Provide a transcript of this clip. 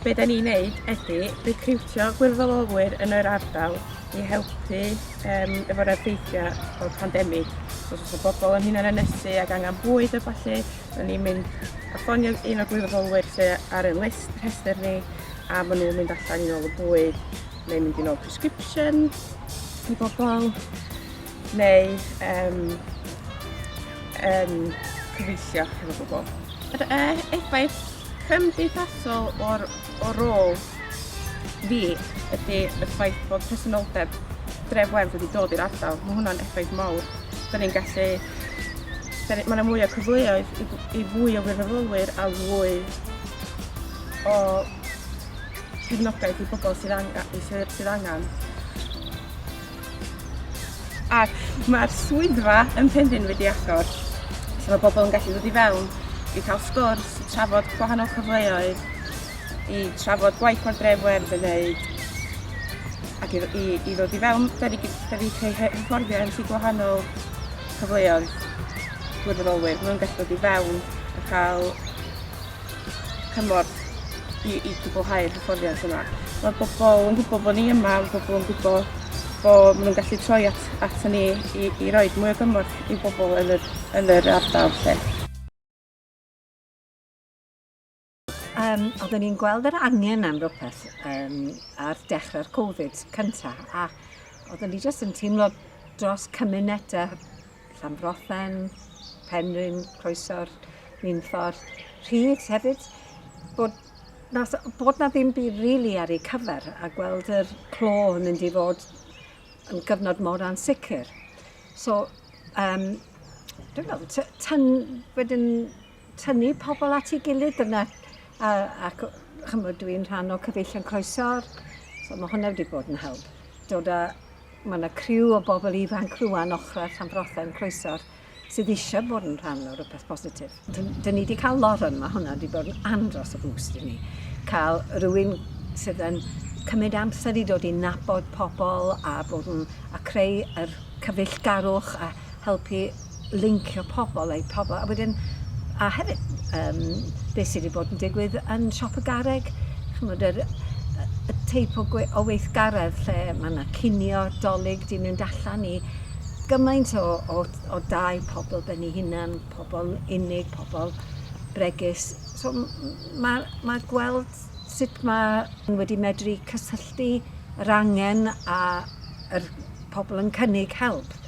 Be da ni'n neud ydy recriwtio gwirfoddolwyr yn yr ardal i helpu um, efo'r effeithiau o'r pandemig. So, os oes bobl yn hunan ynysu ac angen bwyd a falle, da ni'n mynd a ffonio un o'r gwirfoddolwyr sydd ar y list rhestr ni a maen nhw'n mynd allan i ôl y bwyd neu mynd i ôl prescription i bobl. neu um, um, cyfeillio hefo bobl. Yr e, effaith cymdeithasol o'r, o rôl fi ydy y ffaith bod presenoldeb dref werth wedi dod i'r ardal. Mae hwnna'n effaith mawr. Da ni'n gallu... Mae yna mwy o cyfleoedd i, i fwy o wirfoddolwyr a fwy o cefnogaeth i bobl sydd angen, sydd, sydd angen Ac mae'r swyddfa yn Penrhyn wedi agor, so mae pobl yn gallu dod i fewn i cael sgwrs, i trafod gwahanol cyfleoedd, i trafod gwaith o'r dref werdd yn wneud, ac i, i, i ddod i fewn, da ni, da ni creu hyfforddiant i gwahanol cyfleoedd gwirfoddolwyr. Mae nhw'n gallu dod i fewn a cael cymorth i i gwblhau'r hyfforddiant yma. Mae bobl yn gwybod bod ni yma, mae bobl yn gwybod bod maen nhw'n gallu troi at, at ni i, i roi mwy o gymorth i bobl yn yr, yn yr ardal. Lle. Um, oedden ni'n gweld yr angen am rhywbeth um, ar dechrau'r Covid cyntaf a oedden ni jyst yn teimlo dros cymunedau Llanfrothen, Penrhyn, Croesor, Minffordd, Rhyd hefyd, bod na, bod na ddim byd really ar ei cyfer a gweld yr clo yn mynd i fod yn gyfnod mor ansicr. So, um, dwi'n meddwl, tyn wedyn tynnu pobl at ei gilydd dyna a ac ch'mod dwi'n rhan o cyfeillion croeso'r so ma' hwnna wedi bod yn help. Dod â ma' 'na criw o bobl ifanc rŵan ochra Llanbrothe yn croeso'r sydd eisiau bod yn rhan o rhywbeth positif. Dyn ni wedi cael lot yn mae hwnna wedi bod yn andros o bwst i ni. Cael rhywun sydd yn cymryd amser i dod i nabod pobl a bod yn a creu yr cyfeillgarwch a helpu lincio pobl eu pobl a wedyn a hefyd yym be' sy 'di bod yn digwydd yn siop y garreg ch'mod yr yy y teip o gwe- o weithgaredd lle ma' 'na cinio 'Dolig 'di mynd allan i gymaint o o o dai pobl ben 'u hunan pobl unig pobl bregus so m- m- ma' ma' gweld sut ma' n'w wedi medru cysylltu yr angen a yr pobl yn cynnig help